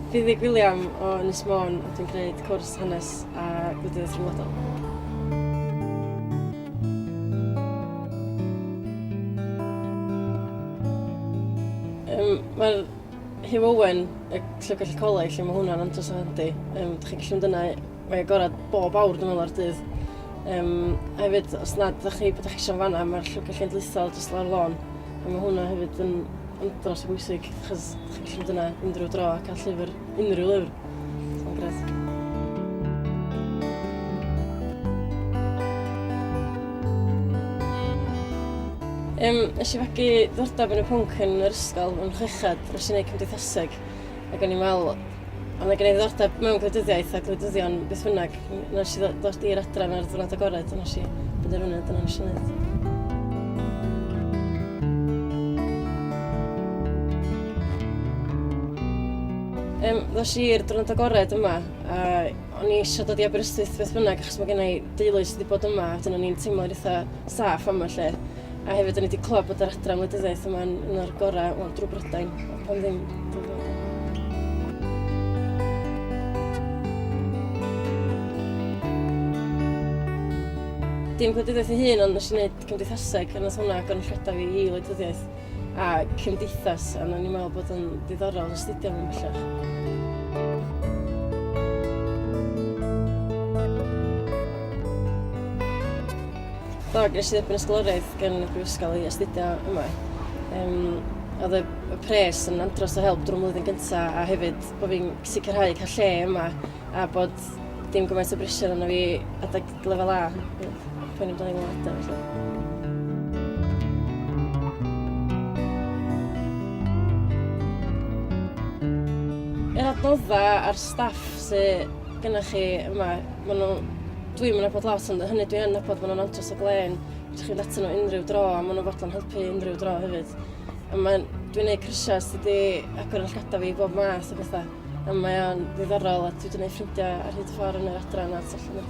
Fi Ddig William o Ynys Môn a dwi'n gwneud cwrs hanes a gwleidyddiaeth rhyngwladol. Um, Mae'r Hugh Owen, y Llyfrgell y Coleg, lle mae hwnna'n andros o handi. Um, Dych chi'n gallu mynd yna Mae agored bob awr dwi'n meddwl o'r dydd. Um, a hefyd, os na, ydych chi bod eich eisiau fanna, mae'r llwybr cenedlaethol jyst lawr lôn. A mae hwnna hefyd yn, yn dros o bwysig, achos ydych chi'n gallu dyna unrhyw dro a cael llyfr, unrhyw lyfr. Mae'n gret. Um, nes i fagu ddordeb yn y pwnc yn yr ysgol yn chwechad, nes i wneud cymdeithaseg. Ac o'n i'n meddwl, a mae gen i ddiddordeb mewn gwleidyddiaeth a gwleidyddion beth bynnag. Nes i ddod i'r adran ar y diwrnod agored, a nes i fynd ar fyny, dyna nes i wneud. Um, ddos i'r drwnt agored yma, a o'n i eisiau dod i Aberystwyth beth bynnag, achos mae gen i deulu sydd wedi bod yma, a dyn o'n i'n teimlo'n eitha saff am y lle. A hefyd, o'n i wedi clywed bod yr adran wleidyddiaeth yma'n un o'r gorau, wel, drwy Brydain, pan ddim, pan ddim. dim gwleidyddiaeth ei hun, ond nes i wneud cymdeithaseg, a nes hwnna agor yn rhedaf i i wleidyddiaeth a cymdeithas, a nes i'n meddwl bod yn ddiddorol yn astudio mewn bellach. Do, ges i dderbyn ysgoloriaeth gan y Brifysgol i astudio yma. Um, oedd y, y pres yn andros o help drwy mlwyddyn gyntaf a hefyd bod fi'n sicrhau cael lle yma a bod dim gymaint o brisio yna fi adag lefel A. Pwy'n amdano i wneud adeg, felly. Yr adnodda a'r staff sy gynnoch chi yma, maen nhw... Dwi'm yn nabod lot, ond hynny dwi yn nabod, maen nhw'n andros o glên. Fedrwch chi fynd atyn nhw unrhyw dro, a maen nhw fodlon helpu unrhyw dro hefyd. A mae'n... Dwi'n gwneud cyrsiau sydd wedi agor yn llgada fi i bob math o bethau. A mae o'n ddiddorol, a dwi wedi gwneud ffrindiau ar hyd y ffordd yn yr adran a tu allan i'r